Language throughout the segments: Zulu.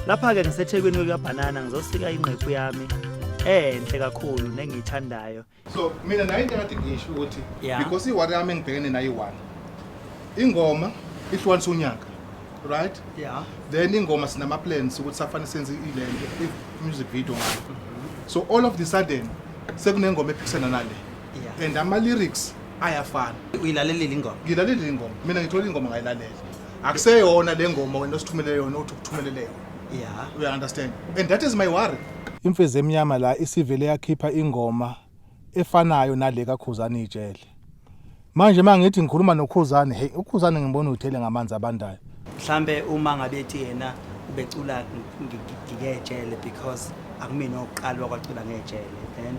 lapha-ke ngisethekwini kwekabhanana ngizosika ingqephu yami enhle kakhulu nengiyithandayo so mina nayo into engathi ngisho ukuthi Yeah. because iwari yami engibhekene nayo iwani ingoma ihlukanisa unyaka right yeah then ingoma sinama plans ukuthi safane senze ilento if music video ngayo so all of the sudden sekunengoma ephikisana nale Yeah. and ama lyrics ayafana uyilalelile ingoma ngilalele ingoma mina ngithola ingoma ngayilalela akuseyona le ngoma wena osithumele yona uthi ukuthumelele yona yeah uya understand and that is my worry imfezi emnyama la isivele yakhipha ingoma efanayo nale kaKhuzani ijele manje uma ngithi ngikhuluma noKhuzani hey uKhuzani ngibona uthele ngamanzi abandayo mhlambe uma ngabe ethi yena ubecula ngiyejele because akumina oqala wakwacula ngejele then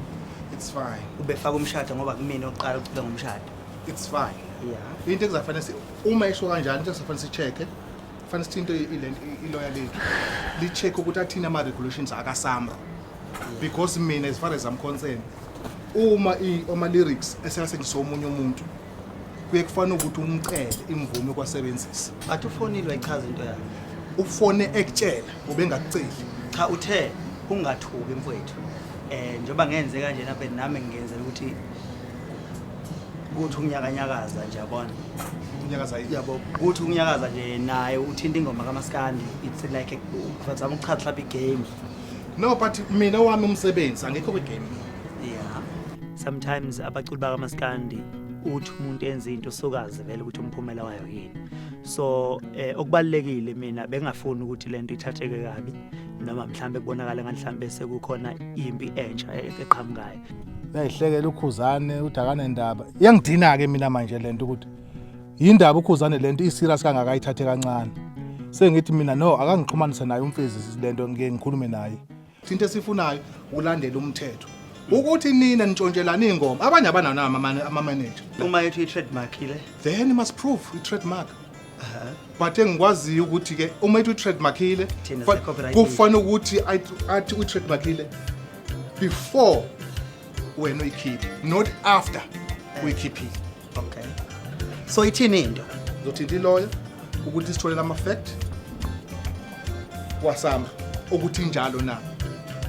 it's fine ubefaka umshado ngoba kumina oqala ucula ngomshado it's fine yeah into ekuzafanele uma esho kanjani into ekuzafanele sicheke fanele sithinte iloya lethu li-check ukuthi athini ama-regulations akasamro because mina as far as I'm concerned uma ama-lyrics esekasebenzisa omunye umuntu kuye kufanele ukuthi umcele imvume yokwasebenzisa but ufonile wayichaza into yakhe ufone ekutshela ubengakuceli cha uthe ungathuki mfowethu um njengoba ngenze kanjena nami ngenzela ukuthi kuthi ukunyakanyakaza nje yabona unyakaza yini yabo kuthi ukunyakaza nje naye uthinta ingoma kamaskandi it's like a but I'm uchaza mhlawumbe igame no but mina wami umsebenzi angekho kwigame yeah sometimes abaculi bakamaskandi uthi umuntu enza into sokazi vele ukuthi umphumela wayo yini so eh, okubalekile mina bengafuni ukuthi lento ithatheke kabi noma mhlambe kubonakala nganhlambe sekukhona impi entsha e-, eqhamukayo uyayihlekela ukhuzane uthi akanendaba iyangidina-ke mina manje le nto ukuthi yindaba ukhuzane le nto iserious kangaka ayithathe kancane sengithi mina no akangixhumanise naye umfezi le nto ngike ngikhulume naye thinte sifunayo ulandela umthetho ukuthi nina nitshontshelana iy'ngoma abanye abanawo amamanager uma ethi i-trademark ile then must prove i-trademark but engikwaziyo ukuthi ke uma ethi utrademarkile Thina fa- sicopyright. kufana ukuthi athi- athi utrademarkile before wena uyikhiphe not after uyikhiphile okay so ithini into ngizothinta iloya ukuthi sitholele ama-fact wasamba ukuthi injalo na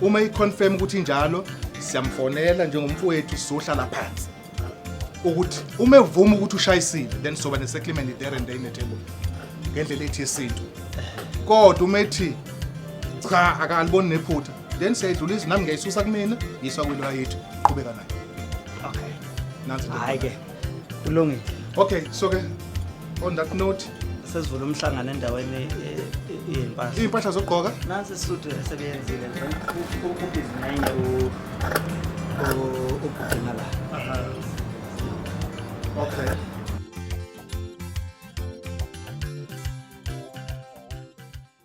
uma i-confirm ukuthi injalo siyamfonela njengomfowethu sizohlala phansi ukuthi uma evuma ukuthi ushayisile then soba ne-settlement there and there netable ngendlela ethi yesintu kodwa uma ethi cha akaliboni nephutha then siyayidlula izwi nami ngiyayisusa kumina yiswa kwiloya yethu qhubeka nayo okay nansi hayi ke kulungile okay so ke On that note, sesivula umhlangano endaweni e- e- yezimpahla. iy'mpahla zokugqoka Nansi isudi esebeyenzile nje. U- u- ubhizi nenye u- u- ubhudina la. okay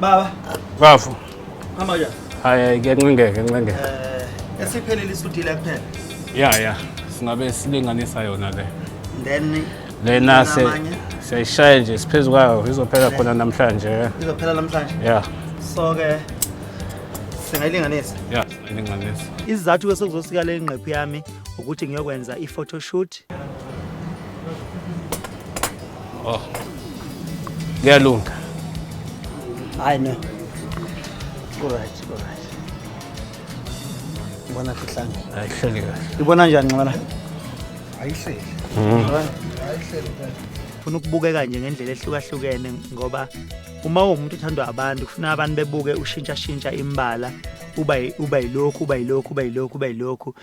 Baba. Bafo. Hamba ya. Hayi ngiyancengeke ngincengeke. Eh esiphelile isudile kuphela. Yeah yeah. Singabe silinganisa yona le. Then lena se siyayishaya nje siphezu kwayo izophela khona namhlanje. Izophela namhlanje. Yeah. So ke singayilinganisa. Yeah, singayilinganisa. Izizathu esokuzosika le ngqephu yami ukuthi ngiyokwenza i-photoshoot Oh. Kuyalunga. Hayi no. Alright, alright. Ngibona kuhlanga. Ayihleli kahle. Ibona njani nxibana? Ayihleli. Mhm. Ayihleli kahle. Funa ukubukeka nje ngendlela ehlukahlukene ngoba uma uwumuntu othandwa abantu kufuna abantu bebuke ushintshashintsha imbala uba uba yilokhu uba yilokhu uba yilokhu uba yilokhu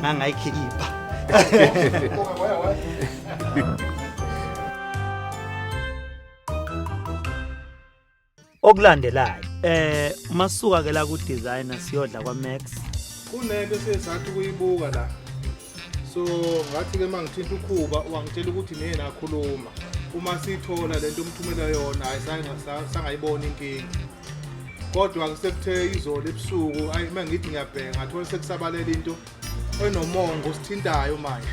ngangayikhipha okulandelayo eh masuka ke la ku designer siyodla kwa Max kunento sesathi kuyibuka la so ngathi ke mangithinta ukhuba wangitshela ukuthi nina akhuluma uma sithola lento umthumela yona hayi sangayibona inkinga kodwa kusekuthe izolo ebusuku ayi uma ngithi ngiyabheka ngathola sekusabalela into enomongo sithintayo manje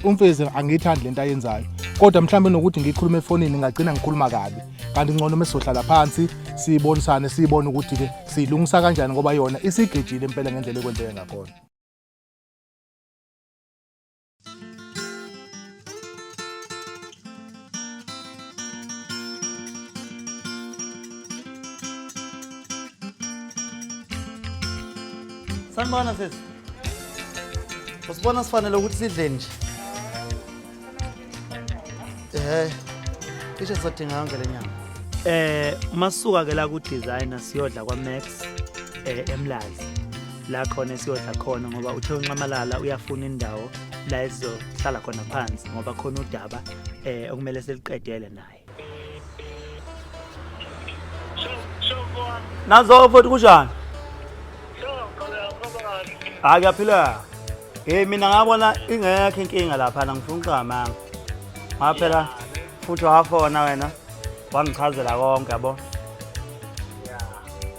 umfezi angiyithandi lento ayenzayo kodwa mhlawumbe nokuthi ngikhuluma efonini ngagcina ngikhuluma kabi kanti ngcono uma sizohlala phansi siyibonisane siyibone ukuthi-ke siyilungisa kanjani ngoba yona isigejile impela ngendlela ekwenzeke ngakhona sanibona sisi usibona sifanele ukuthi sidle nje eh cishe sizodinga yonke le nyanga eh masuka ke la ku designer siyodla kwa Max eh emlazi la khona esiyodla khona ngoba uthe unxamalala uyafuna indawo la esizohlala khona phansi ngoba khona udaba eh okumele seliqedele naye nazo futhi kunjani hayi kuyaphileka Hey mina ngabona ingekho inkinga lapha ngifuna uxamanga. Ngaphela futhi wafona wena wangichazela konke yabo.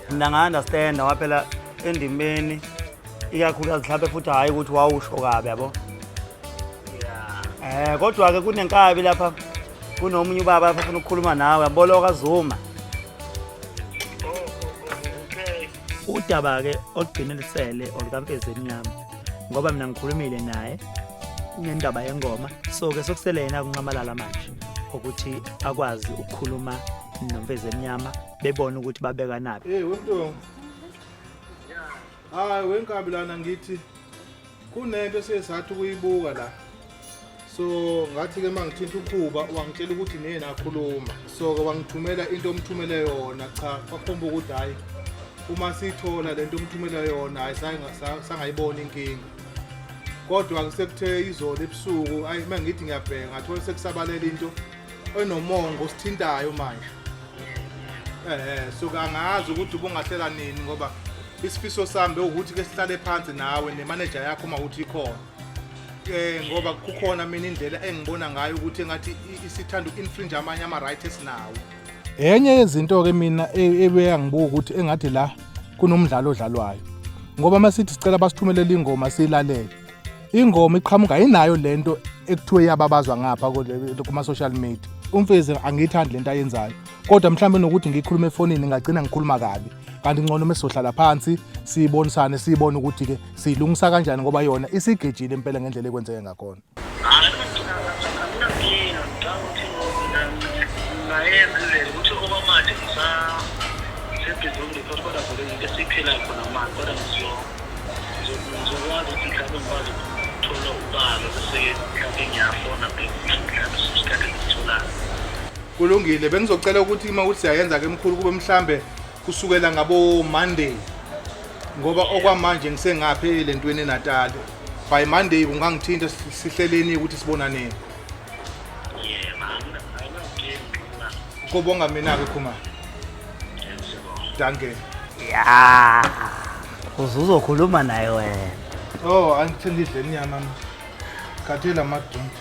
Mina nga understand waphela endimeni ikakhulukazi mhlawumbe futhi hhayi ukuthi wawusho kabi yabo. Eh kodwa ke kunenkabi lapha kunomunye ubaba afuna ukukhuluma nawe yaboloka Zuma. Udaba-ke olugcine lisele olukaMfezi Emnyama ngoba mina ngikhulumile naye ngendaba yengoma so-ke sokusele yena kuncamalala manje ukuthi akwazi ukukhuluma nomfezi emnyama bebone ukuthi babekanaphi hey wemntu hayi wenkabi lana ngithi kunento esiye sathi ukuyibuka la so ngathi-ke uma ngithinta ukhuba wangitshela ukuthi niye nakhuluma so-ke wangithumela into omthumele yona cha kwakhomba ukuthi hhayi uma siyithola le nto omthumele yona hhayi sangayibona inkinga kodwa-ke sekuthe izolo ebusuku ayi uma ngithi ngiyabheka ngathola sekusabalela into enomongo osithintayo manje um so-ke angazi ukuthi ubungahlela nini ngoba isifiso sami bewukuthi ke sihlale phansi nawe nemaneja yakho uma ukuthi ikhona um ngoba kukhona mina indlela engibona ngayo ukuthi engathi i- isithanda uku-infringe amanye ama-right esinawo enye yezinto-ke mina e- ebeyangibuka ukuthi engathi la kunomdlalo odlalwayo ngoba uma sithi sicela basithumelele ingoma siyilalele ingoma iqhamuka yinayo le nto ekuthiwe iyababazwa ngapha kule- kuma-social media umfezi angiyithandi le nto ayenzayo kodwa mhlawumbe nokuthi ngikhulume efonini ngagcina ngikhuluma kabi kanti ngcono uma sizohlala phansi siyibonisane siyibone ukuthi-ke siyilungisa kanjani ngoba yona isigejile impela ngendlela ekwenzeke ngakhona kulungile bengizocela ukuthi uma ukuthi siyayenza ke mkhulu kube mhlambe kusukela ngabo Monday ngoba okwamanje ngisengaphe le ntweni eNatal by Monday kungangithinta sihleleni ukuthi sibonane kobonga mina ke khuma danke ya uzuzokhuluma naye wena oh angithindidle inyama khathela madonti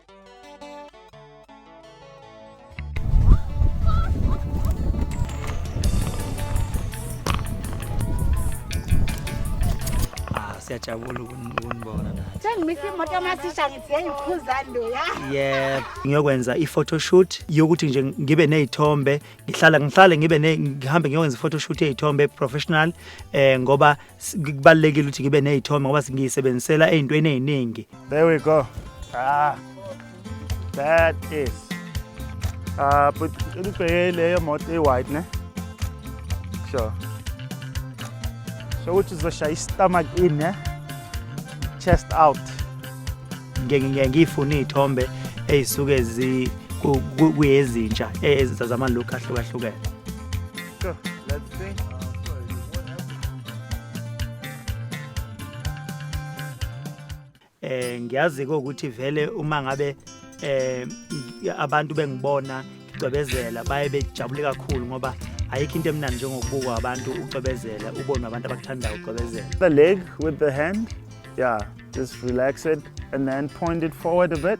Ah, siyajabula ukun- ukunibona nathi. Sengimisa imoto yamasisha ngithi yayikhuza ndoya. Yebo, ngiyokwenza i-photoshoot yokuthi nje ngibe nezithombe, ngihlala ngihlale ngibe ne ngihambe ngiyokwenza i-photoshoot yezithombe professional eh ngoba S- kubalulekile ukuthi ngibe nezithombe ngoba ngiyisebenzisela ey'ntweni ey'ningi There we go. Ah. That is. Ah, but ubheke leyo moto e-white ne? Sure. So uthi uzoshaya i-stomach in ne? Chest out. Ngiye- ngiye ngiyifune iy'thombe ey'suke zi- ku- ku- kuyezintsha e- ezi- zamalook ahlukahlukene Go. Let's see. Eh ngiyazi ke ukuthi vele uma ngabe eh abantu bengibona ngicwebezela baye bejabule kakhulu ngoba ayikho into emnandi njengokubukwa abantu ucwebezela ubone abantu abakuthandayo ucwebezela. The leg with the hand. Yeah, just relax it and then point it forward a bit.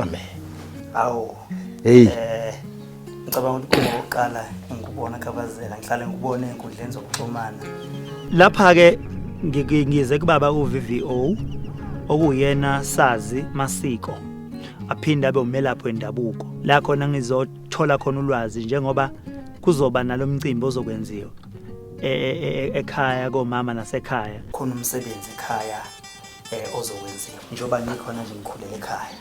Amen. Awu. Hey. Eh ngicabanga ukuthi kuba oqala ngikubona khabazela ngihlale ngikubone enkundleni zokuxhumana. Lapha ke ngize kubaba uVVO okuyena sazi masiko aphinde abe umelaphi wendabuko la khona ngizothola khona ulwazi njengoba kuzoba nalomcimbi ozokwenziwa e, e, e, ekhaya komama nasekhaya khona umsebenzi ekhaya eh ozokwenziwa njengoba ngikhona nje ngikhulele ekhaya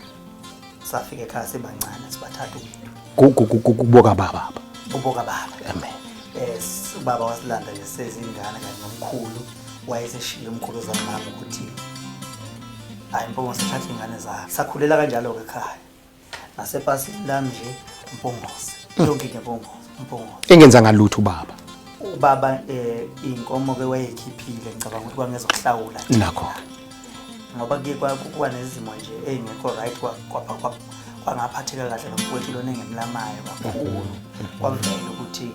safika ekhaya sibancane sibathatha umuntu kuboka baba kuboka baba amen eh ubaba wasilanda nje sezingane kanye nomkhulu wayeseshiye umkhulu zamama ukuthi hayi mpunga sithatha ingane zakhe sakhulela kanjalo ke ekhaya Nasepasini lami nje umpongose. Yonke into umpongose, umpongose. Engenza ngalutho ubaba. Ubaba eh inkomo ke wayekhiphile ngicabanga ukuthi kwangezokuhlawula. Nakho. Ngoba ke kwakuwa nezimo nje ezingekho right kwapha kwapha kwangaphatheka kahle nomfowethu lona engemlamayo kakhulu. Kwavela ukuthi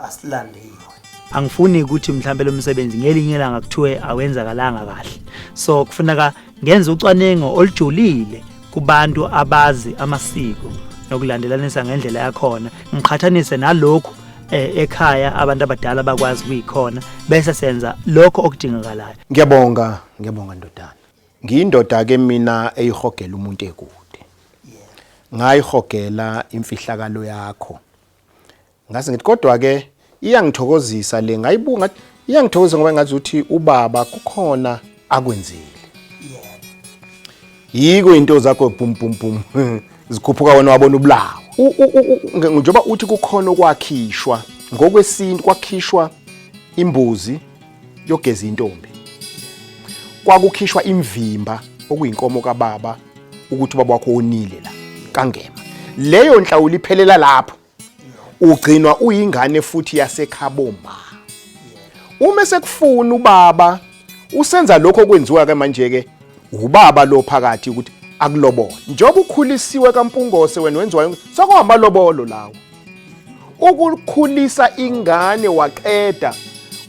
asilande yiyo angifuni ukuthi mhlawumbe lo msebenzi ngelinye ilanga kuthiwe awenzakalanga kahle so kufuneka ngenze ucwaningo olujulile kubantu abazi amasiko nokulandelanisa ngendlela yakhona ngiqhathanise nalokhu eh, ekhaya abantu abadala bakwazi kuyikhona bese senza lokho okudingakalayo ngiyabonga ngiyabonga ndodana Ngiyindoda ke mina eyihogela umuntu ekude. Ngayihogela imfihlakalo yakho. Ngase ngithi kodwa ke iyangithokozisa le ngayibuka iyangithokozisa ngoba ngathi uthi ubaba kukhona akwenzile. Yiko into zakho bum bum bum zikhuphuka wena wabona ubulawo. Njengoba uthi kukhona okwakhishwa ngokwesintu kwakhishwa imbuzi yogeza intombi kwakukhishwa imvimba okuyinkomo kababa ukuthi ubaba wakho onile la kangema leyo nhlawulo iphelela lapho ugcinwa uyingane futhi yasekhaboma uma sekufuna ubaba usenza lokho okwenziwa ke manje ke ubaba lo phakathi ukuthi akulobola njengoba ukhulisiwe kampungose wena wenziwayo sokuhamba lobolo lawo ukukhulisa ingane waqeda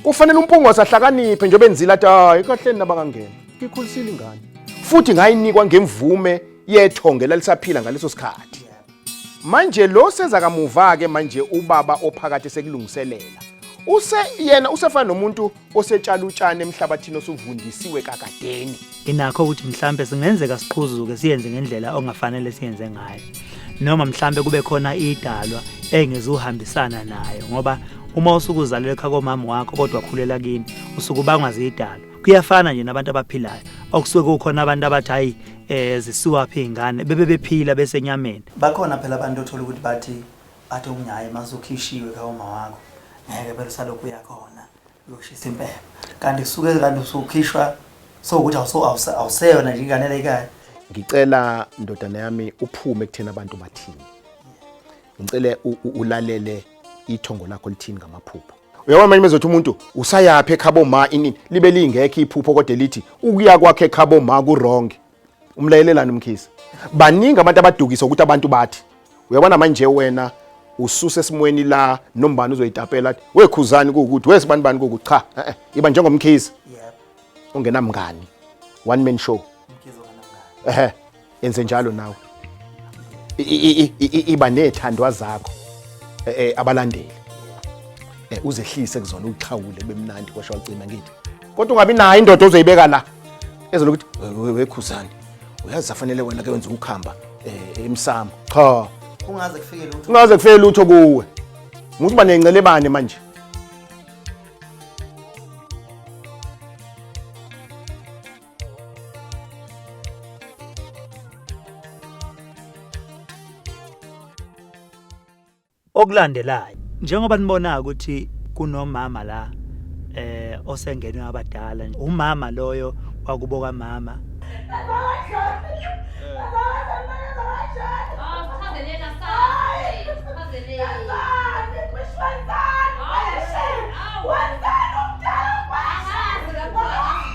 kufanele umpungose ahlakaniphe njengoba enzile athi hayi kahleni nabangangena ngikhulisile ingane futhi ngayinikwa ngemvume yethonge lalisaphila ngaleso sikhathi manje lo seza kamuva-ke manje ubaba ophakathi sekulungiselela use yena usefana nomuntu osetshala utshani emhlabathini osuvundisiwe kakadeni inakho ukuthi mhlambe singenzeka siqhuzuke siyenze ngendlela ongafanele siyenze ngayo noma mhlambe kube khona idalwa engezuhambisana nayo ngoba uma usukuzalelwe ekhaya komama wakho kodwa khulela kini usukubangwa zidalwa kuyafana nje nabantu abaphilayo okusuke kukhona abantu abathi hayi eh zisuwaphi ingane bebe bephila besenyameni bakhona phela abantu othola ukuthi bathi Athi omunye hhayi uma usukhishiwe kawoma wakho ngeke phela usalokhu uyakhona uyoshisa impepha kanti kusuke kanti usukhishwa sowukuthi awuseyona nje ingane leyikhayo ngicela ndodana yami uphume kuthena abantu bathini ngicele ulalele ithongo lakho lithini ngamaphupho uyabona manje mezothi umuntu usayaphi ekhabo ma inini libe lingekho iphupho kodwa elithi ukuya kwakhe ekhabo ma kurongi umlayelelani umkhisi baningi abantu abadukisa ukuthi abantu bathi uyabona manje wena ususe esimweni la nombani uzoyitapela athi wekhuzani kuwukuthi wesibani bani kuwukuthi cha eh, eh, iba njengomkhizi ungenamngani one man show ehe enze njalo nawe iba nethandwa zakho eh, eh, abalandeli eh, uzehlise kuzona uxhawule bemnandi kwasho wacima ngithi kodwa ungabi nayo indoda ozoyibeka la ezelokuthi wekhuzani uyazi afanele wena ke wenza ukukhamba emsamo cha kungaze kufike lutho kungaze kufike lutho kuwe muthi uba nencelebane manje okulandelayo njengoba nibona ukuthi kunomama la eh osengenwe abadala umama loyo wakubo kamama What's that?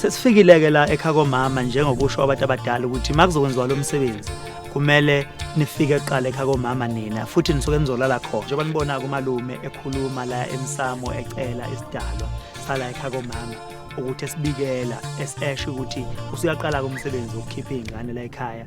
sesifikile-ke la ekha komama njengokusho abantu abadala ukuthi uma kuzokwenziwa lo msebenzi kumele nifike kuqala ekha komama nina futhi nisuke nizolala khona njengoba nibona-ke umalume ekhuluma la emsamo ecela isidalwa sala ekha komama ukuthi esibikela esesho ukuthi usuyaqala-ke umsebenzi wokukhipha iy'ngane la ekhaya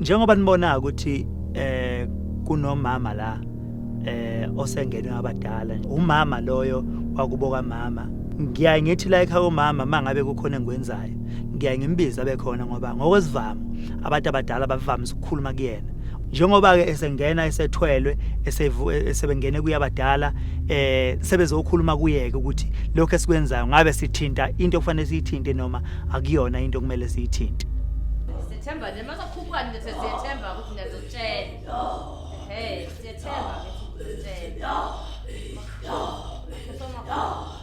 njengoba nibona ukuthi eh kunomama la eh osengenwe abadala umama loyo wakubo kamama ngiyaye ngithi la ekhaya komama mangabe kukhona engikwenzayo ngiyaye ngimbize abe khona ngoba ngokwesivamo abantu abadala bavamise ukukhuluma kuyena njengoba-ke esengena esethwelwe e-, esebengene kuyabadala eh sebezokhuluma kuyeke ukuthi lokho esikwenzayo ngabe sithinta into okufanele siyithinte noma akuyona into okumele siyithinte sethemba nje masakhuphukani nje sethemba ukuthi ngiyazotshela hey sethemba ukuthi ngizotshela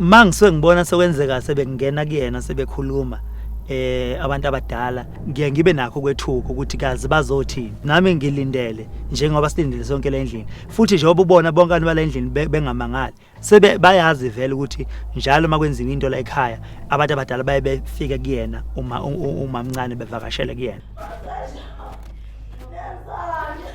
ma ngisuke ngibona sekwenzeka sebengena kuyena sebekhuluma eh abantu abadala ngiye ngibe nakho kwethuka ukuthi kazi bazothi nami ngilindele njengoba silindele sonke le ndlini futhi njengoba ubona bonke abantu bale ndlini bengamangali sebe bayazi vele ukuthi njalo makwenziwa into la ekhaya abantu abadala baye befike kuyena uma umamncane bevakashele kuyena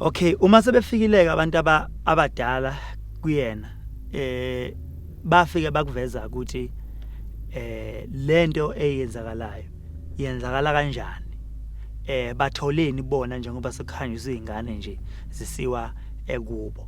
Okay, uma sebefikileke abantu aba abadala kuyena eh bafike bakuveza ukuthi eh lento eyenzakalayo yenzakala kanjani eh batholeni bona njengoba sekukhanyiswa izingane nje zisiwa ekubo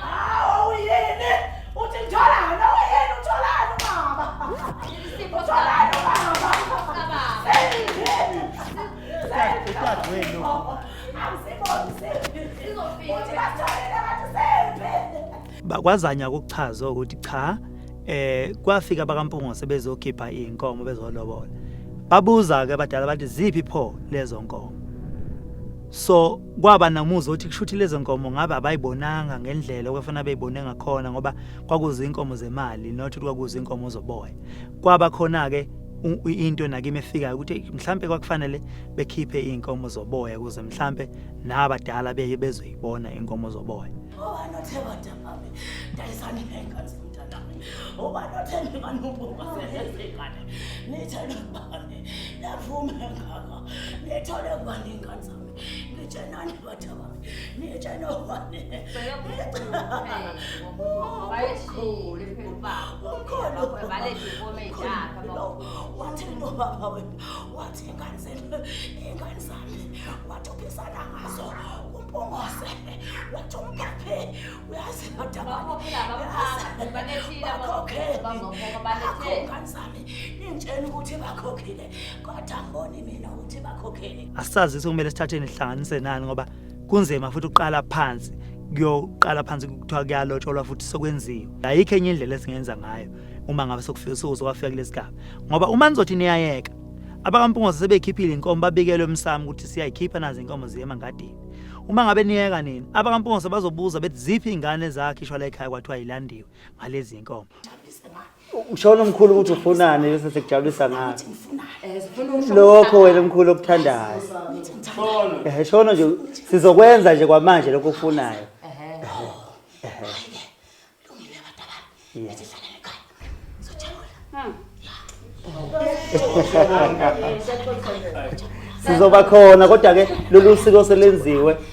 Hawu yini? Uthi ngitholani? Hawu yini utholani baba? Utholani baba? Udadewenu. Akusiboni siphi. Uthi basitholile kanti siphi? bakwazanya ukuchaza ukuthi cha eh kwafika bakampungose bezokhipha inkomo bezolobola babuza ke abadala bathi ziphi pho lezo nkomo so kwaba namuzwa ukuthi kushuthi lezo nkomo ngabe abayibonanga ngendlela okufana beyibone ngakhona ngoba kwakuze inkomo zemali not ukuthi kwakuze inkomo zoboya kwaba khona ke into nakimi efikayo ukuthi mhlambe kwakufanele bekhiphe inkomo zoboya kuze mhlambe nabadala beye bezoyibona inkomo zoboya obani othe badabami dayisani ngenkathi umntanami obani othe ngibani ubuka sengane nithe nobani yavume ngaka Nithole ngani ingane zami? Nithenani bathi abami? Nithena ngani? Bayishile ubaba. Ukhona balethe inkomo eyakhe baba. Wathi ubaba wena, wathi ingane zenu, ingane zami. Wathi uphikisana ngazo. Umpungose. Wathi umphaphe. Uyazi kodwa baba. Balethile abakhokheli. Bakhokhele. Ingane zami. Nitshela ukuthi bakhokhile. kodwa mboni mina ukuthi bakhokhele asazi ukuthi kumele sithatheni sihlanganise nani ngoba kunzima futhi uqala phansi kuyoqala phansi kuthiwa kuyalotsholwa futhi sokwenziwa ayikho enye indlela esingenza ngayo uma ngabe sokufika usuku sokwafika kulesi gaba ngoba uma nizothi niyayeka abakampungoze sebekhiphile inkomo babikelwe emsamo ukuthi siyayikhipha nazi inkomo ziyema ngadini uma ngabe niyeka nini abakampungoze bazobuza bethi ziphi ingane zakhe ishwala ekhaya kwathiwa yilandiwe ngalezi inkomo Ushona umkhulu ukuthi ufunani bese sekujabulisa ngathi. Lokho wena umkhulu okuthandayo. Eh shona nje sizokwenza nje kwamanje lokho ofunayo. Sizoba khona kodwa ke lolu siko selenziwe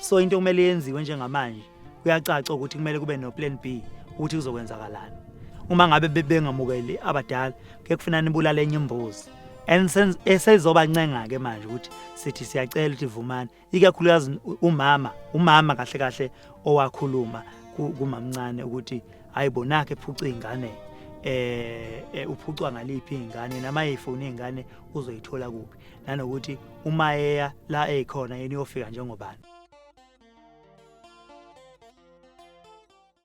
so into kumele yenziwe njengamanje kuyacaca ukuthi kumele kube no-plan b ukuthi kuzokwenzakalani uma ngabe bengamukeli abadala kuye kufunani ibulala enye imbuzi and esezobancenga-ke manje ukuthi sithi siyacela ukuthi vumani ikakhulukazi umama umama kahle kahle owakhuluma kumamncane ukuthi hayi bonakhe phuca ingane eh, eh uphucwa ngaliphi ingane nama ifone ingane uzoyithola kuphi nanokuthi uma eya la ekhona yini yofika njengobani